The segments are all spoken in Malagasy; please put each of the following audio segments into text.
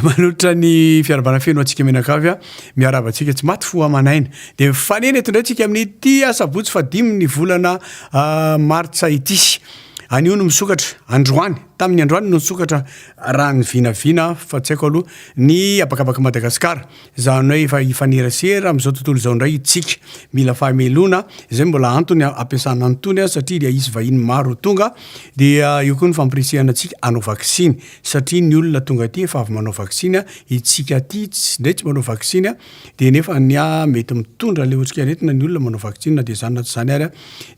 Manotra ny fiarabana feno antsika mianakavy a. Miaraba antsika tsy maty fo aman'aina. Dia mifanena eto indray antsika amin'ity asabotsy fahadimin'ny volana martsa ity. Anio no misokatra, androany. Tamin'ny androany no nisokatra raha ny vinavina fa tsy haiko aloha ny habakabak'i Madagasikara. Izany hoe efa hifanerasera amin'izao tontolo izao indray isika. Mila fahamelohana, izay mbola antony hampiasana an'itony aho satria dia hisy vahiny maro ho tonga. Dia eo koa ny fampirisihana antsika hanao vaksiny satria ny olona tonga aty efa avy manao vaksiny, itsika aty indray tsy manao vaksiny dia nefa ny ahy mety mitondra ilay otrikaretina ny olona manao vaksiny na dia izany na tsy izany ary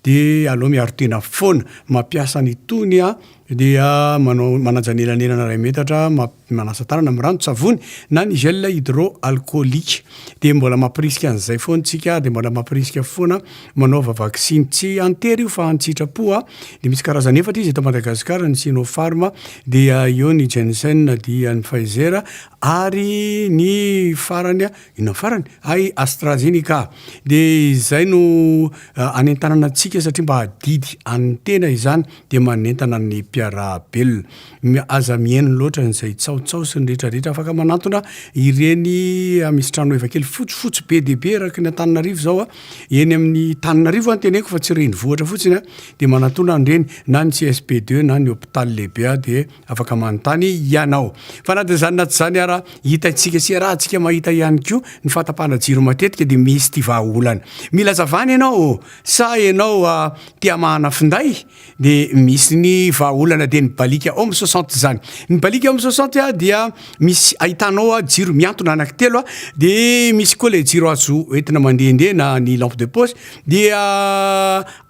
dia aleo miaro tena foana mampiasa an'itony aho. dia manao manaja ny elanelana iray metatra map manasa tanana amin'ny ranon-tsavony na ny gel hydroalcoolique dia mbola mampirisika an'izay foana isika dia mbola mampirisika foana manaova vaksiny tsy an-tery io fa an-tsitrapo a dia misy karazany efatra izy eto Madagasikara ny sinopharm dia eo ny jensen dia ny pfizer ary ny farany Inona farany? Hay AstraZeneca. Dia izay no anentanana antsika satria mba adidy an'ny tena izany dia manentana ny mpiarahabelona. Aza mihaino loatra an'izay tsaotsao sy ny rehetrarehetra. Afaka manantona ireny misy tranoheva kely fotsifotsy be dia be araka ny Antananarivo izao a. Eny amin'ny Tananarivo no teneniko fa tsy renivohitra fotsiny a. Dia manantona an'ireny na ny CSP2 na ny hôpital lehibe a dia Afaka manontany hianao. Fa na dia izany na tsy izany ara, hitaitsika sy iarahantsika mahita ihany koa ny fahatapahana jiro matetika dia misy ity vahaolana. Mila azavana ianao, sa ianao a te hamahana finday? Dia misy ny vahaolana dia ny balika Home soixante izany. Ny balika Home soixante a dia misy ahitanao a jiro mihantona anaky telo a, dia misy koa ilay jiro azo entina mandehandeha na ny lampe de poche dia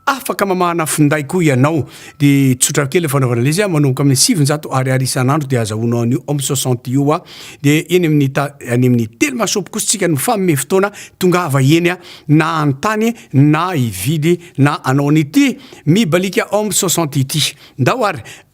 Afaka mamahana finday koa ianao. Dia tsotra kely ny fanaovana ilay izy a, manomboka amin'ny sivinjato ariary isan'andro dia azahoanao an'io Home soixante io a. Dia eny amin'ny ta- any amin'ny Telma shop kosa tsika no famehy fotoana, tongava eny a, na hanontany na hividy na hanao an'ity Mibalika Home soixante ity. Ndao ary.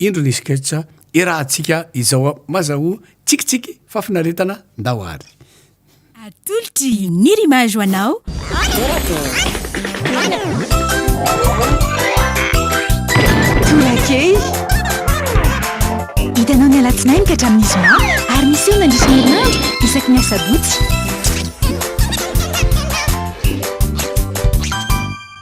Indro ny sketch iarahantsika izao a! Maza ho tsikitsiky fa finaretana ndao ary. Atolotry ny Rima ho anao Torakely! Hitanao ny alatsinainy ka hatramin'ny zoma ary miseho mandritra ny herinandro isaky ny asabotsy.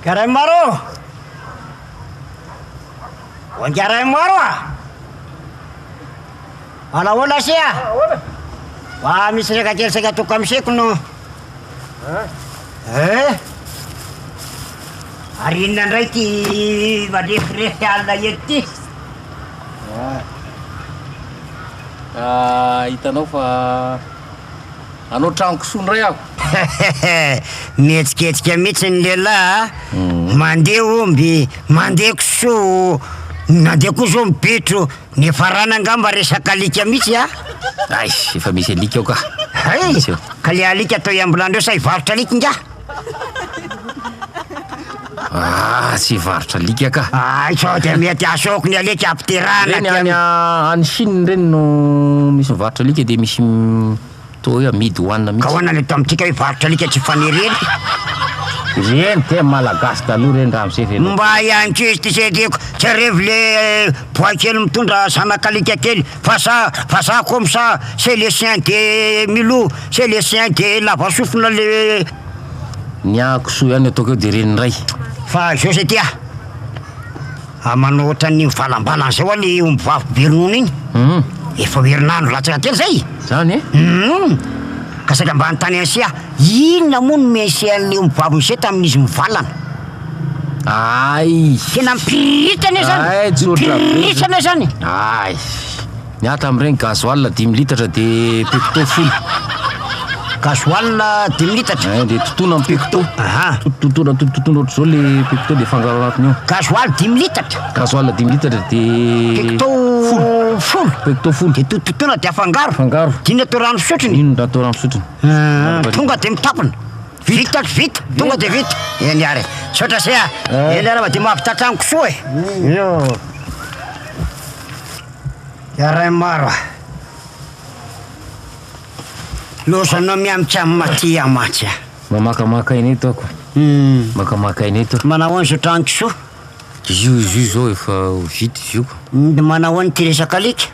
Garay maro! Wangaray maro ah! Manao ahoana sia? Mba misy resaka kely saika toko kamoseko no Eh! Ary inona indray ity marefirefy alina eto ity? Ah, hitanao fa hanao trano kisoa indray aho. Mihetsiketsika mihitsy ny lehilahy a! Mandeha omby, mandeha kisoa, nandeha koa izao ny bitro. Niafarana angamba resaka alika mitsy a! Aish, efa misy alika ao ka! Hay! Ka le alika atao iambolanreo sa hivarotra alika ingahy? Aah, tsy hivarotra alika ka! Hay sao dia mety asôko ny alika apiterahana aty aminy! Reny any Chine reny no misy mivarotra alika dia misy. Toa hoe amidy ho hanina mihitsy. Kaoana ny eto amintsika hoe varotra alika tsy fanerena. Ry eny teo malagasy taloha reny ramose feno. Mba ahy ankizy ty zay reko tsy arevo le boay kely mitondra zanaka alika kely vasa vazaha comme ça c'est le chien de Milou c'est le chien de lava sofina le Ny ahy kisoa ihany no ataoko eo dia ren'ny ray. Fa zao zay ty ah. Ah manao ohatran'ny mivalambalana zay hoa le omby vavy be ronono iny. Hum. Efa ho herinandro latsaka kely zay. Zany e? Hum. Ka saika mba hanontany an'ise aho, inona moa no mihainsé an'le omby vavy misé tamin'izy mivalana? Ay. Tena mipiriritana io zany. Ay, tsotra be. Mipiriritana io zany. Ay. Miankina amin'ireny gasoil dimy litatra dia pecto folo. Gasoil dimy litatra. Eh, dia totoina amin'ny pecto. Aha. Totoina totoina ohatr'izao le pecto dia fangaro anatiny ao. Gasoil dimy litatra. Gasoil dimy litatra dia pecto folo. Folo. Pecto folo. Dia totoina dia afangaro. Afangaro. Dina atao rano fisotro ny. Dina atao rano fisotro. Ah, tonga dia mitapona. Vita vita. Tonga dia vita. Eny ary. Saotra se ah. Eny ary dia mahavita tranoko soa e. Eo. Yaraim ara. Lozanao miamika am Matia mantsy a. Mamakamaka aina eto ako. Makamaka aina eto a. Manao ahoana zotra an kisoa? Io izy io zao efa ho vita izy io ka. Manao ahoana ity resaka alika?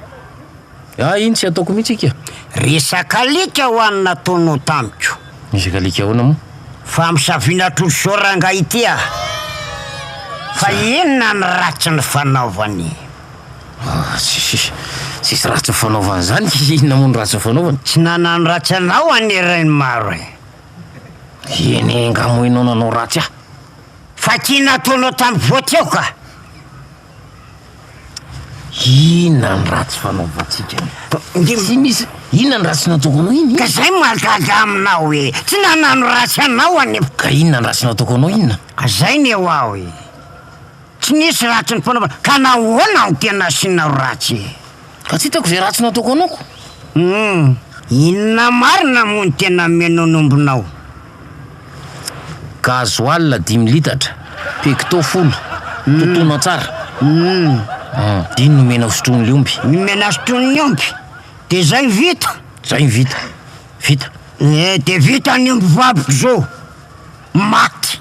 Ah iny tsy ataoko mihitsy ika. Resaka alika ho an'ny nataonao tamiko. Resaka alika ahoana moa? Fa misaviana tros zao rangahy ity a! Fa inona ny ratsy nifanaovany? Ah, tsisy, tsisy ratsy nifanaovana zany, inona moa no ratsy nifanaovana? Tsy nanano ratsy anao anie Rainimaro e! Eny nga moa enao nanao ratsy ahy? Fa ty nataonao tam voa teo ka! Inona ny ratsy fanaovantsika? Tsy misy, inona ny ratsy nataoko anao iny? Ka zay mahagaga aminao e! Tsy nanano ratsy anao anie! Ka inona ny ratsy nataoko anao inona? Ka zay ny ho aho e! Tsy nisy ratsy ny fanaovana ka nahoana no tena asianao ratsy e? Fa tsy hitako izay ratsy nataoko anao ko. Humm, inona marina moa no tena menono ombinao? Gasoil dimy litatra, pecto folo, totoina tsara. Humm, dia iny nomena ho sotroin'ny omby. Nomena sotroin'ny omby? Dia izay no vita? Izay no vita. Vita. Eh, dia vita ny omby vaviko izao. Maty.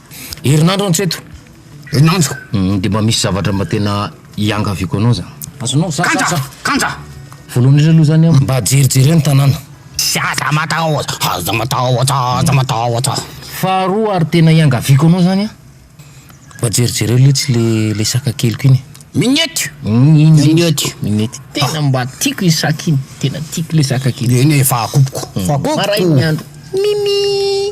Herinandro an tseto. Herinandro. Dia mba misy zavatra mba tena iangaviako anao zany. Azonao za Kanja! za. Kanja! Voalohany indrindra aloha zany an, mba jerijereo ny tanàna. Tsy aza matahotra, aza matahotra, aza matahotra. Faharoa ary tena iangaviako anao zany an, mba jerijereo letsy le le saka keliko iny e. Minioty! Minioty. Minioty. Tena mba tiako iny saka iny, tena tiako le saka kely. Neny e, fahakopoko. Fahakopoko. Marain'ny andro. Mimi.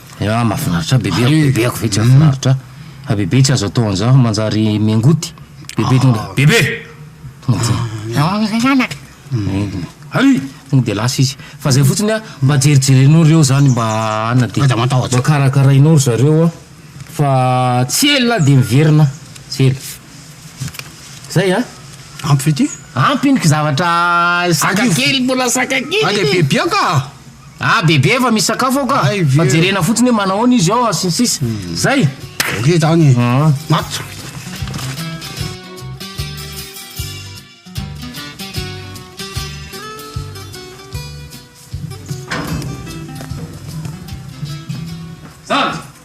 Ya mafinaritra bebe ako bebe ako vetsy mafinaritra fa bebe tsy azo atao anzao fa manjary mengoty bebe tonga de bebe tonga de hay tonga de lasa izy fa zay fotsiny a mba jerijerenao reo zany mba ana de mba karakarainao ry zareo a fa tsy ela de miverina tsy ela zay a ampy ity ampy iny ky zavatra saka kely mbola saka kely iny. Ah bebe efa misakafo ao ka Hay ve. fa jerena fotsiny hoe manahoana izy ao sy ny sisa zay Ok zany. Ah. Maty. Zandry.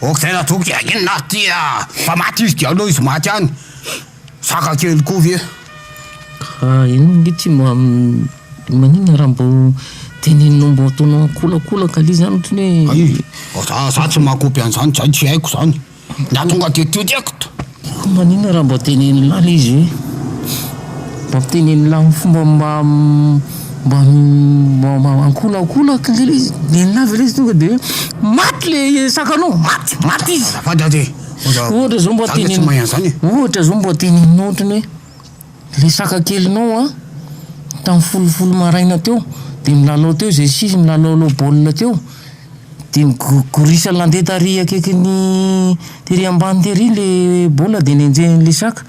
Ok tena toky a! inona aho ty a! fa maty izy dia aleo izy maty any! saka kely koa ve? Ka ianao ange ty mba maninona raha mbo teneninao mbo ataonao akolakolaka le zany ohatran'ny hoe. Ay, za za tsy mahakopy an'zany, zay tsy haiko zany, ny ahatonga de tody ekto. Koa maninona raha mba teneno lahy le izy hoe mba miteneno lahy amin'ny fomba mba mba mba mba ankolakolaky le le izy miteny lahy ve le izy tonga de hoe maty le sakanao maty maty izy Azafady aho ty ohatra zao mba teneno ohatra zao mba teneno ohatrany hoe. Resaka kelinao an! Tamin'ny folo folo maraina teo dia milalao teo izay sisa, milalaolao baolina teo dia ny gorisa nandeha tary akaikin'ny tery ambany tery ilay baolina dia nenjehin'ilay saka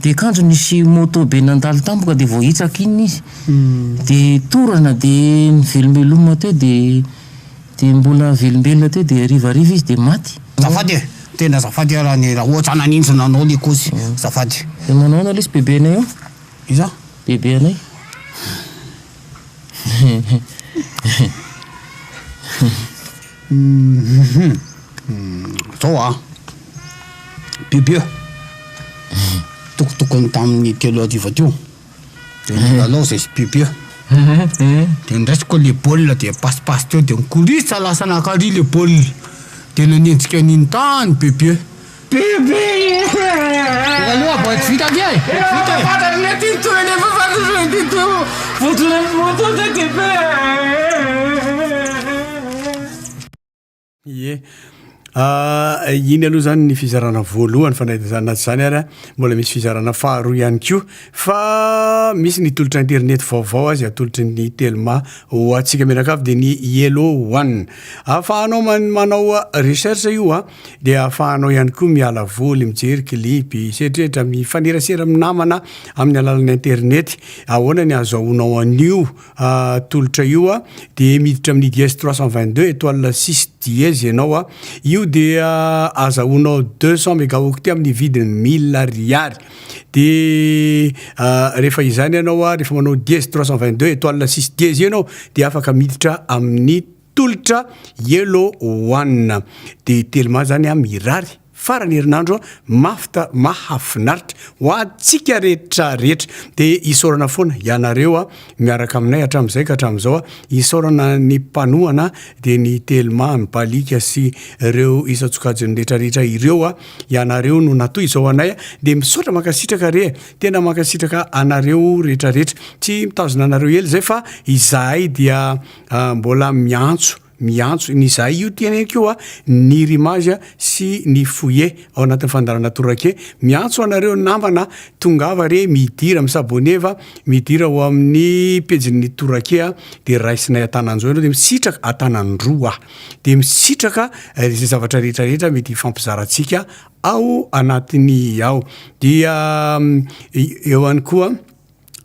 dia kanjo nisy moto be nandalo tampoka dia voahitsaka iny izy dia torana dia nivelomeloma teo dia Dia mbola velombelona teo dia hariva hariva izy dia maty. Azafady e! Tena azafady ara ny raha ohatra naninjy nanao ny kozy. Azafady. Dia manao ahoana lesy bebe anay eo? Iza? Bebe anay. Zao an! Bebe! Tokotokony tamin'ny telo hariva teo. de milalao zay sy bebe de ndraisiko le baolina de pasipaso teo de nikorisa lasa nankary le baolina de nanenjika an'iny tany bebe bebe aloha vao tsy vita anie vita e fatarina ty toy nefa fatarina ty toy voaton'ny voaton'ny bebe Ie. Iny aloha zany ny fizarana voalohany fa na izany na tsy izany ary mbola misy fizarana faharoa ihany koa fa misy ny tolotra internet vaovao azy atolotry ny telma ho antsika mianakavy dia ny yellow one ahafahanao manao recherche io a dia ahafahanao ihany koa miala voly mijery clipy setrehitra mifanerasera minamana amin'ny alalan'ny internet ahoana ny azahoanao an'io tolotra io a, de miditra amin'ny dièse trois cent vingt deux étoile six dièse ianao a, io dia azahoanao deux cent mégaoctet amin'ny vidiny mille ariary, de rehefa izany ianao a, rehefa manao dièse trois cent vingt deux étoile six dièse io ianao de afaka miditra amin'ny tolotra yellow one de telma zany a mirary farany herinandro mafy ta mahafinaritra ho antsika rehetra rehetra de isaorana foana ianareo a miaraka aminay hatramin'izay ka hatramin'izao a isaorana ny mpanohana de ny telma ny balika sy reo isan-tsokajiny rehetra rehetra ireo a ianareo no natoy izao anay a de misaotra mankasitraka re tena mankasitraka anareo rehetra rehetra tsy mitazona anareo ela izay fa izahay dia Ah, mbola miantso, miantso ny izahay io teneniko io a, ny Rimage sy ny Fouillé ao anatin'ny fandaharana Torake. Miantso anareo namana a, tongava re, midira, mi-s'abonner fa, midira ao amin'ny pejin'ny Torake a, dia raisinay an-tananjo ianao, dia misitraka, an-tanan-droa aho, dia misitraka izay zavatra rehetra rehetra mety hifampizarantsika ao anatiny ao. Dia eo ihany koa.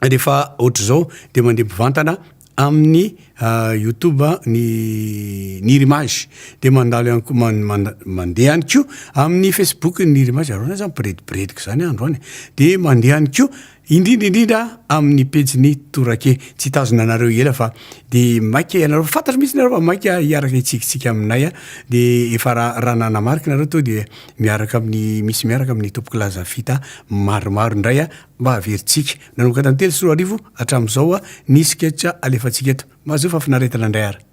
Rehefa ohatr'izao dia mandeha mpivantana amin'ny ah, YouTube ny ny Irimage dia mandalo ihany koa mandeha ihany koa amin'ny Facebook ny Irimage aroana izany mpiredibirediko izany androany dia mandeha ihany koa indrindra indrindra amin'ny pejiny torake tsy hitazona anareo ela fa dia maika ianareo fantatro mihitsy nareo fa maika hiaraka hitsikitsika aminay a dia efa raha raha nanamarika nareo to dia miaraka amin'ny misy miaraka amin'ny tompoko laza fita maromaro indray a mba haverintsika. Nanokatra ny telo sy roa arivo hatramin'izao a, ny sketch alefantsika eto. Mahazoa fahafinaretana indray ary.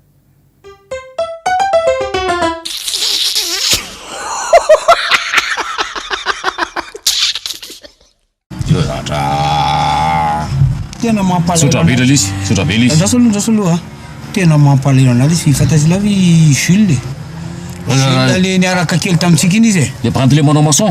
Tena mampalahelo anao. Misaotra be Lalys, misaotra be Lalys. Andraso aloha, andraso aloha. Tena mampalahelo anao Lalys, fantatr'i Love i Jules e. Jules le niaraka kely tamintsika iny izy e. Le Brandy le manao maçon.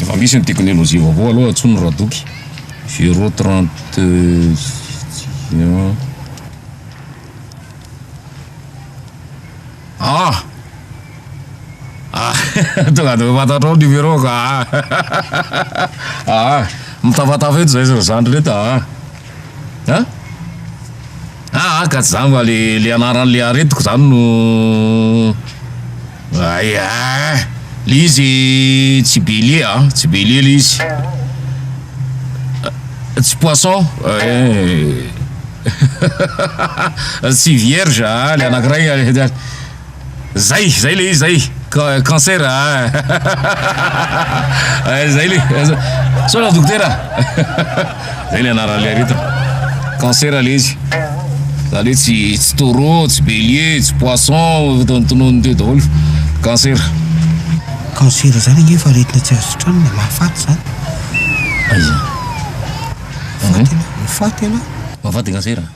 Efa misy ny teknolojia vaovao aloha antsoiny radoky zero trente ah ah tonga de fantatrao numéro ka ah ah mitafatafa eto zay zandry reto ah ah Aa ka za mba le le anaran'le aretiko zany no ay aa le izy tsy bélier a tsy bélier le izy tsy poisson tsy vierge a le anakiray Zay, zay le izy zay, cancer ahh zay le, sao raha dokotera, zay le anaran'le aretina, cancer le izy, zany hoe tsy tsy taureau, tsy bélier, tsy poisson, tonontonony teo daholo, cancer. Cancer zany ange efa aretina tsy azo sitranina, mahafaty zany. Aiza? Mahafaty ianao, mahafaty ianao. Mahafaty cancer?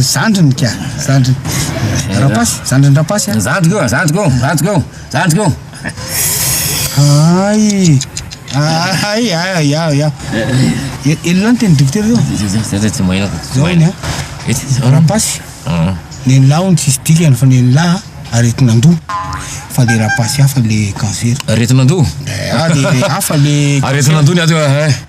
Zandriny ka! Zandriny Rapasy, zandriny Rapasy an! Zandriko io, zandriko io, zandriko io, zandriko io! Hay! Hay! Hay! Yah! Yah! Elona ny teny dokotera io! Zay zay tsy maheno aho! Zao ny an! Rapasy! Nen'lah hono tsisy dikany fa nen'lah aretin'andoha! Fa le Rapasy hafa le cancer! Aretin'andoha? Eeh! Hafa le cancer! Aretin'andoha ny ato e!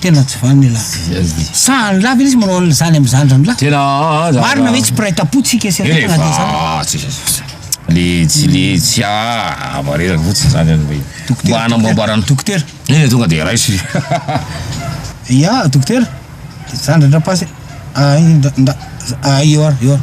Tena tsy vanona elah. Sa any lah ve izy manao an'izany amin'ny zandrany lah? Tena aza. Marina ve tsy mpiray tampo tsika eseretina dia izany? Efa tsy zazafo. Le tsy le tsy ah marina fotsiny zany any hoe mba hanamboambarana. Dokotera. Eny tonga dia raiso izy. Ya dokotera de zandra-dRapasy ah iny nda nda ah eo ary eo ary.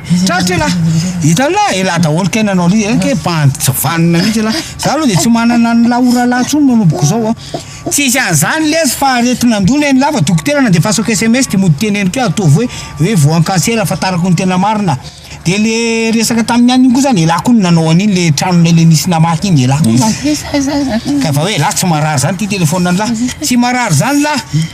Tratra elah! Hitanao elah, elah daholo kay nanao an'io, eny kay bandy tsy vanona mihitsy elah! Za aloha de tsy manana an'i la orala intsony manomboka izao a! Tsisy an'izany lesy fa aretin'andoana eny lava, dokotera nandefasako sms de mody teneniko eo ataovy hoe hoe voan'ny cancer ahafantarako ny tena marina, de le resaka tamin'ny ihany iny koa zany elah koa no nanao an'iny le tranonay le nisy namaky iny elah koa zany, ka efa hoe elah tsy marary zany ity telephone an'lah! Tsy marary zany lah!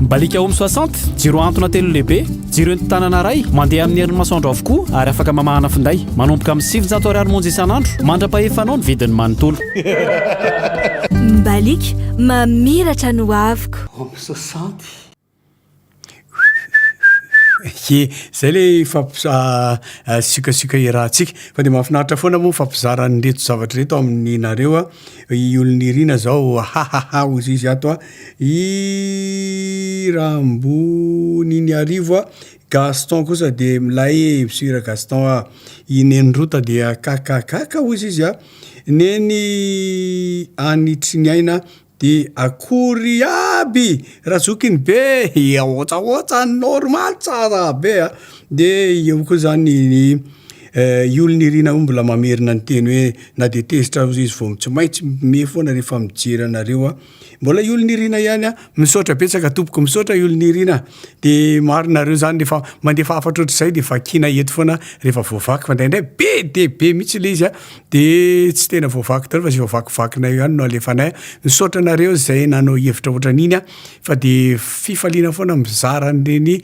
Mbaliaka Home soixante, jiro antona telo lehibe, jiro entin-tanana iray, mandeha amin'ny herin'ny masoandro avokoa ary afaka mamahana finday. Manomboka amin'ny sivinjato ariary monja isan'andro, mandra-pahefanao ny vidiny manontolo. Mbaliaka, mamiratra ny hoaviko. Home soixante. Ye, zay le fampisiokasiok iarahantsika fa dia mahafinaritra foana moa fampizarana ireto zavatra ireto aminareo a, i Olonirina zao hahaha hoy izy ato a. I Ramboniniarivo a! Gaston kosa de milay e! Msira Gaston a! I Neny Rota dia kakakaka hozy izy a! Neny any Triniaina de akory iaby! Razokiny be hihaotsaotsa ny normal tsara be a! De eo koa zany ny i Olonirina o! Mbola mamerina ny teny hoe na de tezitra aza izy vao tsy maintsy mihomehy foana refa mijery anareo a! Mbola iol nirina ihany a. Misaotra betsaka tompoko, misaotra iol nirina, de maro nareo zany refa mandefa hafatra ohatr'izay de vakina eto foana refa voavaky fa ndraindray be de be mitsy le izy a, de tsy tena voavaky daholo fa ze vavakivakinay eo ihany no alefanay, misaotra anareo zay nanao hevitra ohatran'iny a, fa de fifaliana foana mizara an'ireny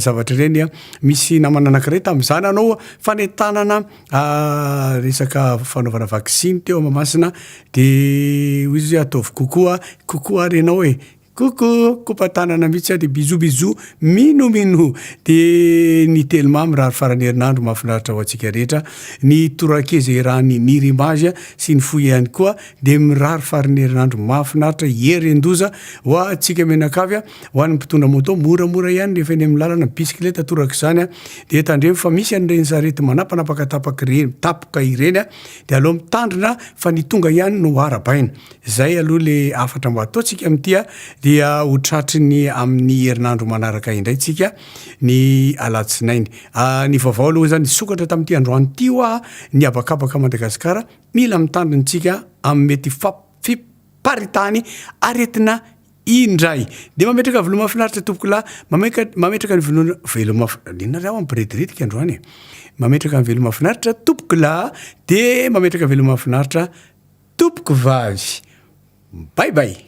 zavatra ireny a, misy namana anakiray tamza nanao fanentanana Ah, resaka fanaovana vaksiny teo Mahamasina dia hoy izy hoe ataovy kokoa, kokoa ary ianao e! Coucou! Kopa tanana mihitsy aho dia bisous bisous! Mino mino! Dia ny Telma mirary faran'ny herinandro mahafinaritra ho antsika rehetra, ny Torakeza Irany Nirimbaja sy ny Foy ihany koa dia mirary faran'ny herinandro mahafinaritra hieren-doza ho antsika mianakavy a! Ho an'ny mpitondra moto, moramora ihany rehefa eny amin'ny lalana, bisikileta torak'izany dia tandremo fa misy an'ireny sarety manapanapaka tapaka ireny, tapka ireny dia aleo mitandrina fa ny tonga ihany no arabaina. Izay aloha ilay hafatra mba ataontsika amin'ity dia ho tratry ny amin'ny herinandro manaraka indray tsika ny alatsinainy. Ny vaovao aloha izany nisokatra tamin'ity androany ity hoa ny habakabaka Madagasikara, mila mitandrina isika amin'ny mety fiparitahany aretina Indray. Dia mametraka volo mafinaritra tompoko lahy, mameka, mametraka ny volo, velo maf, inona raha aho ampirediritika androany e. Mametraka ny velo mafinaritra tompoko lahy, dia mametraka velo mafinaritra tompoko vavy. Bye bye.